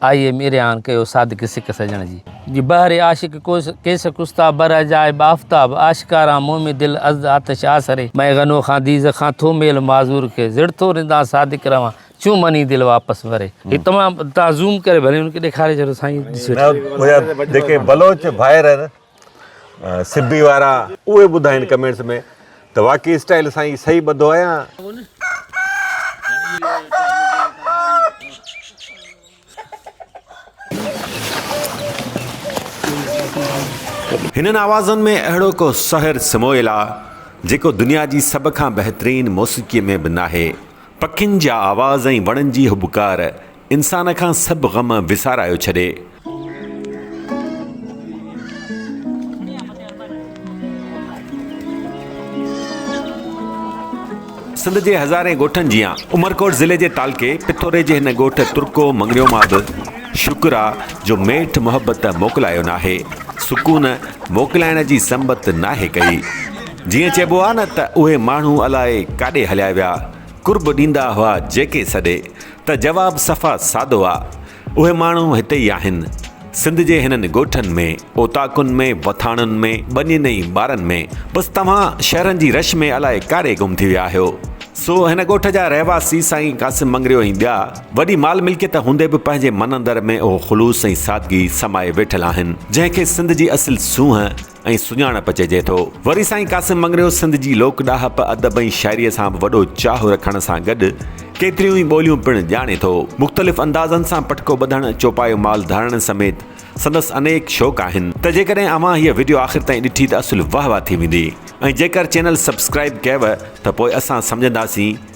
آئي am Aryan ڪيو صادق سڪ سڄڻ جي. جي بحر عاشق ڪوس ڪيس ڪستا بر عجائب آفتاب آشڪاران مومي دل ازد آتش آسري مئي غنو خان ديز خان ٿو ميل معذور کي زڙ ٿو رندان صادق روان چون مني دل واپس وري. هي تمام تان زوم ڪري ڀلي ان کي ڏيکاري ڇڏو سائين ڏسي وٺي. نه هيا جيڪي بلوچ ڀائر آهن سبي وارا اهي ٻڌائين ڪمينٽس ۾ ته واقعي اسٽائل سائين صحيح ٻڌو آهي هنن آوازن ۾ اهڙو ڪو سحر سمويل آ جيڪو دنيا جي سڀ کان بهترين موسيقي ۾ به ناهي پکين جا آواز ۽ وڻن جي هٻڪار انسان کان سڀ غم وسارايو ڇڏي. سنڌ جي هزارين ڳوٺن جيان عمرڪوٽ ضلعي جي تعلقي پٿوري جي هن ڳوٺ ترڪو مڱڻيو مان به شڪر آ جو ميٺ محبت موڪلايو ناهي سڪون موڪلائڻ جي سنبت ناهي ڪئي جيئن چئبو آ نه ته اهي ماڻهو الائي ڪاڏي هليا ويا قرب ڏيندا هئا جيڪي سڏي ته جواب صفا سادو آ اهي ماڻهو هتي ئي آهن سنڌ جي هنن ڳوٺن ۾ اوطاقن ۾ وٿاڻن ۾ ٻنين ۽ ٻارن ۾ بس توهان شهرن جي رش ۾ الائي ڪاڏي گم ٿي ويا آهيو سو هن ڳوٺ جا رهواسي سائين قاسم مڱريو ۽ ٻيا وڏي مال ملڪيت هوندي به پنهنجي من اندر ۾ اهو خلوص ۽ سادگي سمائي ويٺل آهن جنهن کي سنڌ جي اصل سونهن ۽ سڃاڻپ چئجي ٿو. وري سائين قاسم مڱريو سنڌ جي لوڪ ڏاهپ، ادب ۽ شاعريء سان به وڏو چاهه رکڻ سان گڏ ڪيتريون ئي ٻوليون پڻ ڄاڻي ٿو. مختلف اندازن سان پٽڪو ٻڌڻ، چوپايو مال ڌارڻ سميت سندس انيڪ شوق آهن. ته جيڪڏهن اوهان هيء وڊيو آخر تائين ڏٺي ته اصل واهه واهه ٿي ويندي ۽ جيڪر چينل سبسڪرائيب ڪيوه ته پوء اسان سمجهنداسين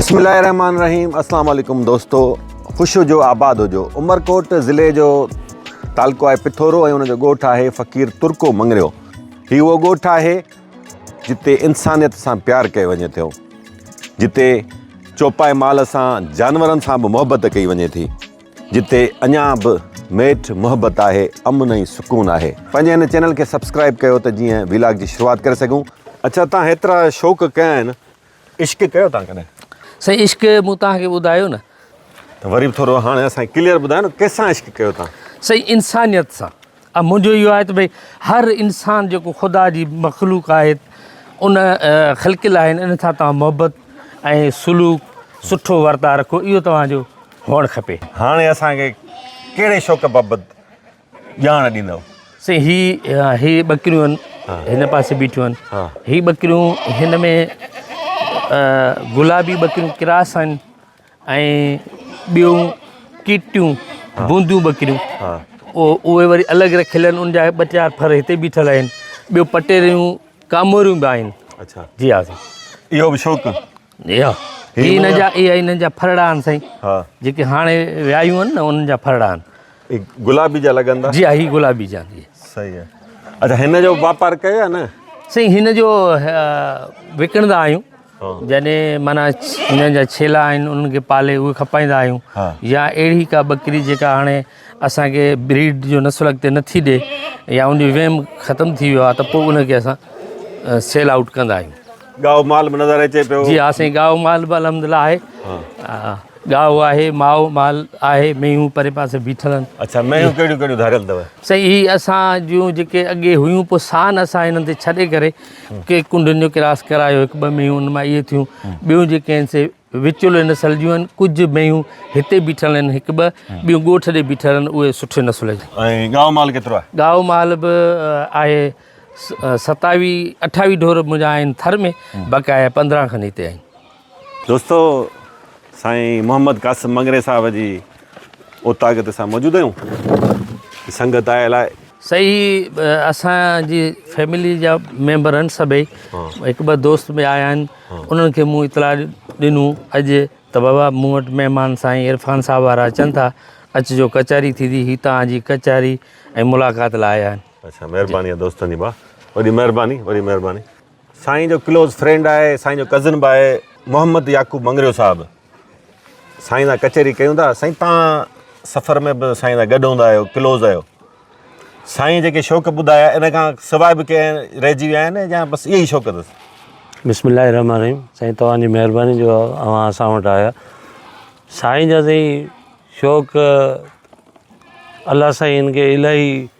بسم الله الرحمن الرحيم السلام عليڪم دوستو خوش هجو آباد هجو عمرڪوٽ ضلعي جو تعلقو آهي پٿورو ۽ ان جو ڳوٺ آهي فقير ترڪو مڱريو هي اهو ڳوٺ آهي جتي انسانيت سان پيار ڪيو وڃي ٿو، جتي چوپائي مال سان جانورن سان به محبت ڪئي وڃي ٿي، جتي اڃا به ميٺ محبت آهي، امن ۽ سڪون آهي. پنهنجي هن چينل کي سبسڪرائيب ڪيو ته جيئن ويلاگ جي شروعات ڪري سگهون. اڇا تان هيترا شوق ڪيا آهن عشق ڪيو تان ڪڏهن؟ سائين عشق مون تان کي ٻڌايو نه. ته وري به ٿورو هاڻي اسان کي ڪليئر ٻڌايو نه ڪيسان عشق ڪيو تان؟ سائين انسانيت سان ۽ منهنجو اهو آهي ته ڀئي هر انسان جيڪو خدا جي مخلوق آهي ان خلق الله آهن ان سان توهان محبت ۽ سلوڪ سٺو ورتاء رکو اهو توهان جو هئڻ کپي. هاڻي اسان کي ڪهڙي شوق بابت ڄاڻ ڏيندؤ. سائين هي هي ٻڪريون آهن هن پاسي بيٺيون آهن ها هي ٻڪريون هن ۾ گلابي ٻڪريون ڪراس آهن ۽ ٻيون ڪيٽيون بونديون ٻڪريون ها اهي وري الڳ رکيل آهن ان جا ٻه چار ڦر هتي بيٺل آهن ٻيو پٽيريون ڪاموريون به آهن اچا جي ها سائين اهو به شوق هي هن جا اهي هنن جا ڦرڙا آهن سائين ها جيڪي هاڻي ويايون آهن نه انهن جا ڦرڙا آهن هي گلابي جا لڳن ٿا جي ها هي گلابي جا آهن صحيح آهي اچا هن جو واپار ڪيو آهي نه سائين هن جو وڪڻندا آهيون جڏهن مانا هنن جا ڇيلا آهن انهن کي پالي اهي کپائيندا آهيون يا اهڙي ڪا ٻڪري جيڪا هاڻي اسانکي بريڊ جو نسل اڳتي نٿي ڏي يا ان جو ويم ختم ٿي ويو آهي ته پوء ان کي اسان سيل آوٽ ڪندا آهيون ڳائو مال به نظر اچي پيو. جي ها سائين ڳائو مال به الحمد الله آهي ڳائو آهي مائو مال آهي مينهون پري پاسي بيٺل آهن. اڇا مينهون ڪهڙيون ڪهڙيون ڌاريل اٿو. سائين هي اسان جون جيڪي اڳي هيون پو سان اسان هنن تي ڇڏي ڪري ڪي ڪنڊن جو ڪراس ڪرايو هڪ ٻه مينهون ان مان اهي ٿيون ٻيون جيڪي آهن سي وچولي نسل جون آهن ڪجهه مينهون هتي بيٺل آهن هڪ ٻه ٻيون ڳوٺ ڏي بيٺل آهن اهي سٺي نسل جون. ۽ ڳائو مال ڪيترو آهي. ڳائو مال به آهي ستاويهه اٺاويهه ڍور منهنجا آهن ٿر ۾، بقايا پندرهن کن هتي آهن. دوستو سائين محمد قاسم مڱري صاحب جي اوطاق تي اسان موجود آهيون ۽ سنگت آيل آهي. سائين هي اسان جي فيملي جا ميمبر آهن سڀئي هڪ ٻه دوست به آيا آهن انهن کي مون اطلاع ڏنو اڄ ته بابا مون وٽ مهمان سائين عرفان صاحب وارا اچن ٿا اچجو ڪچهري ٿيندي هي توهان جي ڪچهري ۽ ملاقات لاء آيا آهن. اچا مھرباني آ دوستن جي با وڏي مھرباني وڏي مھرباني سائين جو ڪلوز فرينڊ آھي سائين جو ڪزن با آھي محمد يعقوب مڱريو صاحب سائين سان ڪچھري ڪيون ٿا سائين تان سفر ۾ به سائين سان گڏ هوندا آهيو ڪلوز آهيو سائين جيڪي شوق ٻڌايا ان کان سواء به ڪنهن رهجي ويا آهن يا بس اهي ئي شوق اٿس بسم الله الرحمن الرحيم سائين توهان جي مهرباني جو اوهان اسان وٽ آيا سائين جا سائين شوق الله سائين ان کي الاهي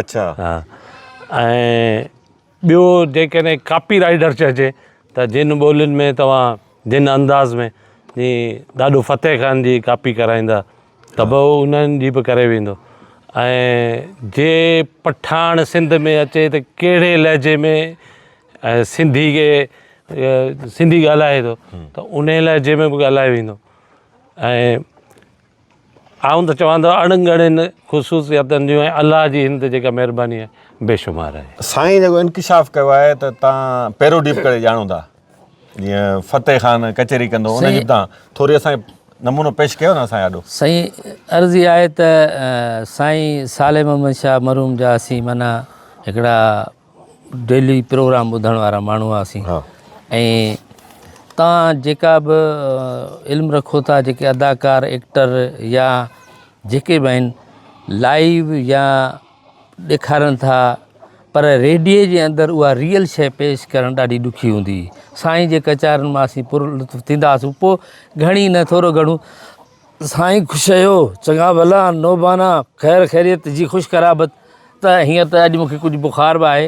اڇا. ها ۽ ٻيو جيڪڏهن ڪاپي رائيڊر چئجي ته جن ٻولين ۾ توهان جن انداز ۾ جي ڏاڏو فتح خان جي ڪاپي ڪرائيندا ته به انهن جي به ڪري ويندو ۽ جي پٺاڻ سنڌ ۾ اچي ته ڪهڙي لهجي ۾ سنڌي کي سنڌي ڳالهائي ٿو ته انهي لهجي ۾ به ڳالهائي ويندو ۽ آئون ته چوان ته اڻ ڳڻين خصوصياتن جون ۽ الله جي هن تي جيڪا مهرباني آهي بي شمار آهي. سائين جيڪو انڪشاف ڪيو آهي ته تان پيرو ڊيپ ڪري ڄاڻو ٿا جيئن فتح خان ڪچهري ڪندو ان جي تان ٿوري اسان کي نمونو پيش ڪيو نه اسان آڏو. سائين عرض اها آهي ته سائين صالح محمد شاهه مرحوم جا اسين معنيٰ هڪڙا ڊيلي پروگرام ٻڌڻ وارا ماڻهو هئاسين ۽ تان جيڪا به علم رکو ٿا جيڪي اداڪار ايڪٽر يا جيڪي به آهن لائيو يا ڏيکارن ٿا پر ريڊيو جي اندر اها ريئل شي پيش ڪرڻ ڏاڍي ڏکي هوندي سائين جي ڪچارن مان اسين پر لطف ٿيندا هئاسون پوء گهڻي نه ٿورو گهڻو سائين خوش رهيو. چڱا ڀلا نوبانا خير خيريت جي خوش قرابت ته هيئن ته اڄ مون کي ڪجهه بخار به آهي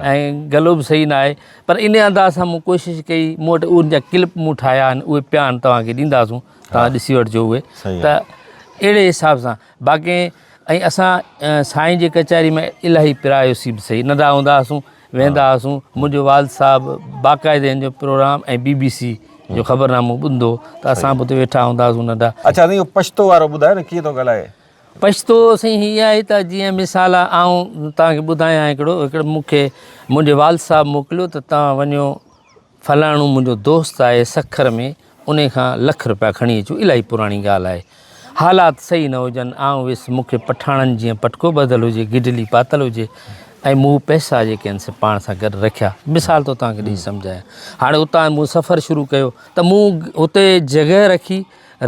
۽ گلو به صحيح ناهي پر انهي انداز سان مون ڪوشش ڪئي مون وٽ ان جا ڪلپ مون ٺاهيا آهن اهي پيا آهن توهان کي ڏينداسون توهان ڏسي وٺجو اهي ته اهڙي حساب سان باقي ۽ اسان سائين جي ڪچهري ۾ الاهي پرايوسي به صحيح ننڍا هوندا هئاسون ويندا هئاسون منهنجو والد صاحب باقاعده هن جو پروگرام ۽ بي بي سي جو خبرنامو ٻڌندو ته اسان به اتي ويٺا هوندا هئاسون ننڍا. اڇا سائين اهو پشتو وارو ٻڌايو نه ڪيئن ٿو ڳالهائي. پشتو سائين هي آهي ته جيئن مثال آئون توهان کي ٻڌايان هڪڙو هڪڙو مون کي منهنجي والد صاحب موڪليو ته توهان وڃو فلاڻو منهنجو دوست آهي سکر ۾ انهي کان لک روپيا کڻي اچو الاهي پراڻي ڳالهه آهي حالات صحيح نه هجن آئون ويس مون کي پٺاڻن جيئن پٽڪو ٻڌل هجي گڊلي پاتل هجي ۽ مون پئسا جيڪي آهن سي پاڻ سان گڏ رکيا مثال ٿو توهان کي ڏئي سمجهايان هاڻي اتان مون سفر شروع ڪيو ته مون اتي جڳهه رکي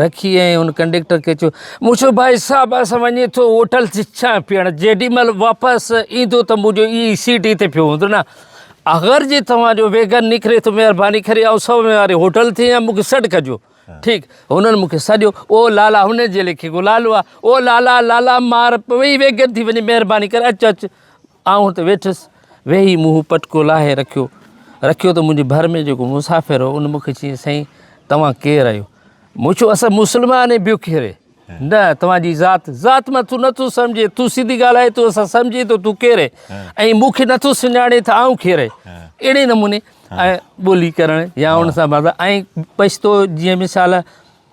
رکي ۽ ان ڪنڊيڪٽر کي چيو، مون چيو ڀائي صاحب اسان وڃي ٿو هوٽل جي چانهه پيئڻ جيڏي مهل واپس ايندو ته منهنجو اي اي سيٽ اتي پيو هوندو نه اگر جي توهان جو ويگن نڪري ته مهرباني ڪري آئون سو مين واري هوٽل تي آهيان مونکي سڏ ڪجو ٺيڪ هنن مونکي سڏيو او لالا هنن جي ليکي گلالو آ او لالا لالا مار پوي ويگن ٿي وڃي مهرباني ڪري اچ اچ آئون هتي ويٺس، ويهي مون هو پٽڪو لاهي رکيو. رکيو ته منهنجي ڀر ۾ جيڪو مسافر هو، ان مون کي چيائين، سائين، توهان ڪير آهيو؟ مون چيو، اسان مسلمان ۽ ٻيو ڪير؟ نه، توهان جي ذات، ذات مان تون نٿو سمجهين، تون سنڌي ڳالهائين ٿو، اسان سمجهين ٿو تون ڪير؟ ۽ مون کي نٿو سڃاڻين ته آئون ڪير؟ اهڙي نموني ٻولي ڪرڻ يا ان سان ۽ پشتو جيئن مثال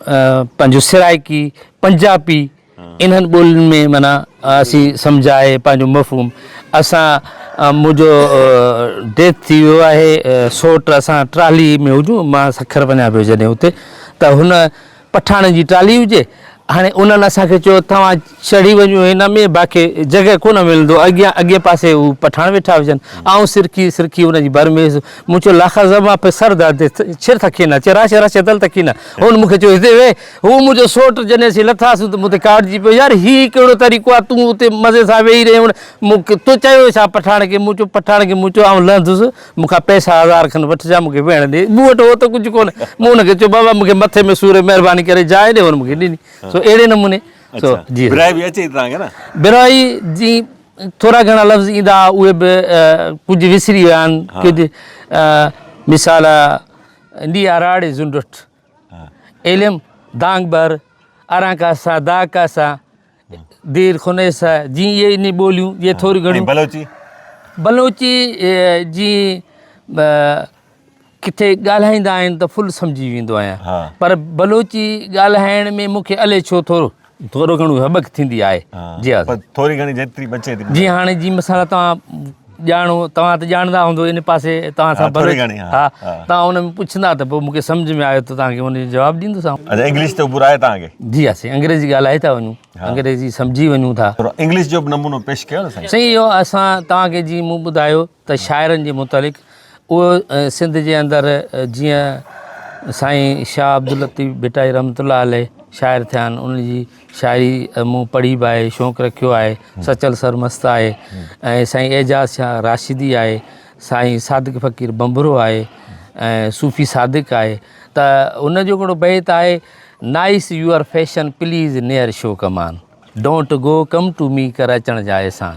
پنهنجو سرائڪي، پنجابي انهن ٻولين ۾ معنيٰ اسين سمجهائي پنهنجو مفهوم اسان منهنجو ڊيٿ ٿي ويو آهي سوٽ اسان ٽرالي ۾ هجون مان سکر وڃان پيو جڏهن اتي ته هن پٺاڻن جي ٽرالي هجي هاڻي انهن اسان کي چيو توهان چڙهي وڃون هن ۾ باقي جڳهه ڪونه ملندو اڳيان اڳئين پاسي هو پٺاڻ ويٺا هجن آئون سرڪي سرڪي ان جي ڀر ميز مون چيو لاکا زه مان پي سر داد ڇر ٿڪينا چه راشه راشه دل ٿڪينا هن مون کي چيو هتي ويهه هو منهنجو سوٽ جڏهن اسين لٿاسون ته مون تي ڪاڙجي پيو يار هي ڪهڙو طريقو آ تون اتي مزي سان ويهي رهين هن مون کي تو چيو ڇا پٺاڻ کي مون چيو پٺاڻ کي مون چيو آئون لهندس مون کان پئسا هزار کن وٺجان مون کي ويهڻ ڏي مون وٽ هو ته ڪجهه ڪونه مون هن کي چيو بابا مون کي مٿي ۾ سور مهرباني ڪري جاء ڏي هن مون کي ڏني سو اهڙي نموني سو جي برائي به اچي تان کي نه برائي جي ٿورا گھڻا لفظ ايندا اهي به ڪجھ وسري ويا آهن ڪجھ مثال ڏي اراڙي زنڊٺ علم دانگ بر اران کا سا دا کا سا دير خني سا جي اي ني ٻوليون جي ٿوري گھڻي بلوچي بلوچي جي ڪٿي ڳالهائيندا آهن ته فل سمجهي ويندو آهيان پر بلوچي ڳالهائڻ ۾ مون کي الئي ڇو ٿورو ٿورو گهڻو هٻڪ ٿيندي آهي جي ها سائين ٿوري گهڻي جيتري بچي ٿي جي هاڻي جي مثال توهان ڄاڻو توهان ته ڄاڻندا هوندو ان پاسي توهان سان ٿوري گهڻي ها توهان ان ۾ پڇندا ته پوء مون کي سمجهه ۾ آيو ته توهان کي ان جو جواب ڏيندوسانو اچا انگلش ته عبور آهي توهان کي جي ها سائين انگريزي ڳالهائي ٿا وڃون انگريزي سمجهي وڃون ٿا انگلش جو به نمونو پيش ڪيو سائين سائين اهو اسان توهان کي جي مون ٻڌايو ته شاعرن جي متعلق اهو سنڌ جي اندر جيئن سائين شاهه عبداللطيف ڀٽائي رحمت الله عليه شاعر ٿيا آهن ان جي شاعري مون پڙهي به آهي شوق رکيو آهي سچل سرمست آهي ۽ سائين اعجاز شاهه راشدي آهي سائين صادق فقير بنبرو آهي ۽ صوفي صادق آهي ته ان جو هڪڙو بيت آهي nice your fashion please near show come on don't go come to me ڪر اچڻ جا احسان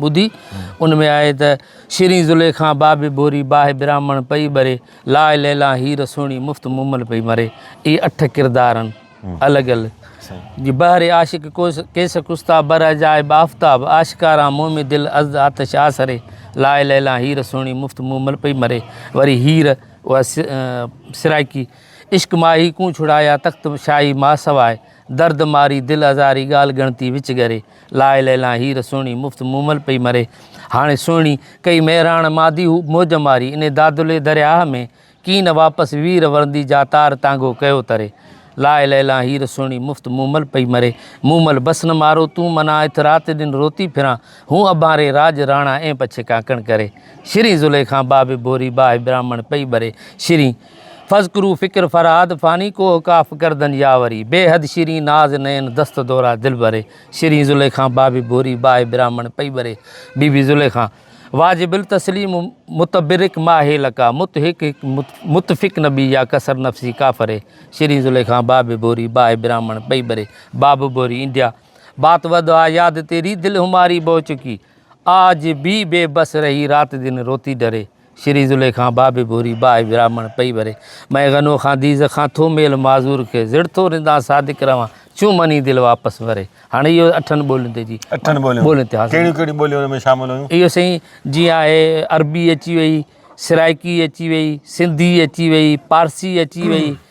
ٻڌي، ان ۾ آهي ته، شيرين زليخان بابي ڀوري باهه براهمڻ پئي ٻري، لاء ليلان هير سهڻي مفت مومل پئي مري. اهي اٺ ڪردارن، الڳ الڳ، جي بهر عاشق ڪوس ڪيس ڪستا بر اجاء بافتاب آشڪاران مومي دل ازد آتش آسري، لاء ليلان هير سهڻي مفت مومل پئي مري. وري هير، اها سرائڪي، عشق ماهي ڪون ڇڙايا تخت شاهي ماء سواء، درد ماري دل ازاري ڳالهه ڳڻتي وچ ڳري لاء ليلان هير سهڻي مفت مومل پئي مري هاڻي سهڻي ڪئي مهراڻ مادي هو موج ماري انهي دادلي درياهه ۾ ڪين نه واپس وير ورندي جا تار تانگهو ڪيو تري لاء ليلان هير سهڻي مفت مومل پئي مري مومل بس نه مارو تون منا اٿ رات ڏن روتي ڦران هون اڀانري راڄ راڻا اين پڇي ڪانڪڻ ڪري شرين زليخان بابي ڀوري باهه براهمڻ پئي ٻري شرين فذڪرو فڪر فرهاد فاني ڪوه ڪاف گردن ياوري بيحد شيرين ناز نئن دست دورا دل بري شيرين زليخان بابي ڀوري باهه براهمڻ پئي ٻري بي بي زليخان واجب التسليم متبرڪ ماهي لقا مت هڪ هڪ متفق نبي يا ڪسر نفسي ڪافري شيرين زليخان بابي ڀوري باهه براهمڻ پئي ٻري باب ڀوري انڊيا بات ود آ ياد تيري دل هماري بوه چڪي آج بي بي بس رهي رات دن روتي ڊري شري زليخان با به ڀوري باهه براهمڻ پئي ڀري مئي غنو کان ديز کان ٿو ميل معذور کي زڙ ٿو رندان صادق روان چون مني دل واپس ڀري هاڻي اهو اٺن ٻولين تي جي اٺن ٻولين ٻولين تي حاصل ڪهڙيون ڪهڙيون ٻوليون ان ۾ شامل هيون اهو سائين جيئن آهي عربي اچي وئي سرائڪي اچي وئي سنڌي اچي وئي پارسي اچي وئي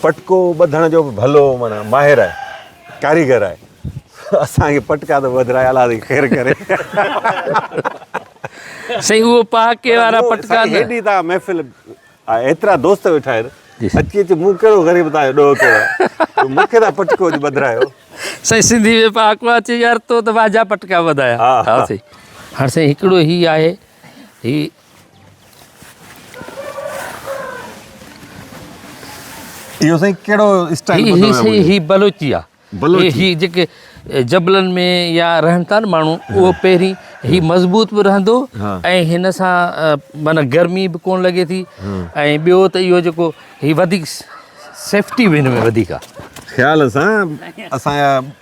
پٽڪو ٻڌڻ جو به ڀلو معنيٰ ماهر آهي ڪاريگر آهي اسان کي پٽڪا ته ٻڌرائي الله تي خير ڪري سائين اهو پهاڪي وارا پٽڪا نه هيڏي تا محفل ايترا دوست ويٺا آهن اچي اچي مون ڪهڙو غريب تان جو ڏوهه ڪيو مون کي تا پٽڪو اچ ٻڌرايو سائين سنڌي ۾ پهاڪو آهي چي يار تو ته واجها پٽڪا ٻڌايا ها سائين هاڻ سائين هڪڙو هي آهي هي اهو سائين ڪهڙو اسٽائل هي هي سائين هي بلوچي آ بلوچي هي جيڪي جبلن ۾ يا رهن ٿا نه ماڻهو اهو پهرين هي مضبوط به رهندو ۽ هن سان معنی گرمي به ڪون لڳي ٿي ۽ ٻيو ته اهو جيڪو هي وڌيڪ سيفٽي به هن ۾ وڌيڪ آ خيال سان اسان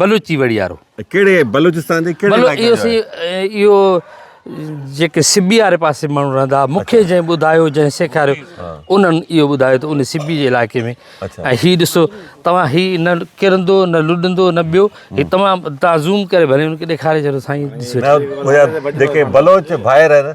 بلوچي وڙيارو. ڪهڙي بلوچستان جي ڪهڙي علائقي جو آهي؟ اهو جيڪي سبي واري پاسي ماڻهو رهندا هئا مونکي جنهن ٻڌايو جنهن سيکاريو انهن اهو ٻڌايو ته ان سبي جي علائقي ۾ ۽ هي ڏسو توهان هي نه ڪرندو نه لڏندو نه ٻيو هي تمام تازوم ڪري ڀلي ان کي ڏيکاري ڇڏيو سائين ڏسي وٺي. جيڪي بلوچ ڀائر آهن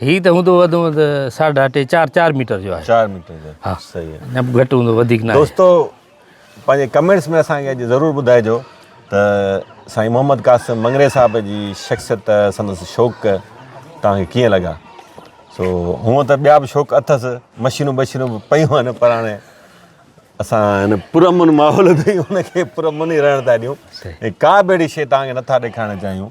هي ته هوندو وڌ ۾ وڌ ساڍا ٽي چار چار ميٽر جو آهي چار ميٽر جو ها صحيح آهي نه گهٽ هوندو وڌيڪ نه دوستو پنهنجي ڪمينٽس ۾ اسان کي اڄ ضرور ٻڌائجو ته سائين محمد قاسم مڱري صاحب جي شخصيت سندس شوق توهان کي ڪيئن لڳا سو هونء ته ٻيا به شوق اٿس مشينون بشينون به پيون آهن پر هاڻي اسان هن پرامن ماحول ۾ ان کي پرامن ئي رهڻ ٿا ڏيون ڪا به اهڙي شيء توهان کي نٿا ڏيکارڻ چاهيون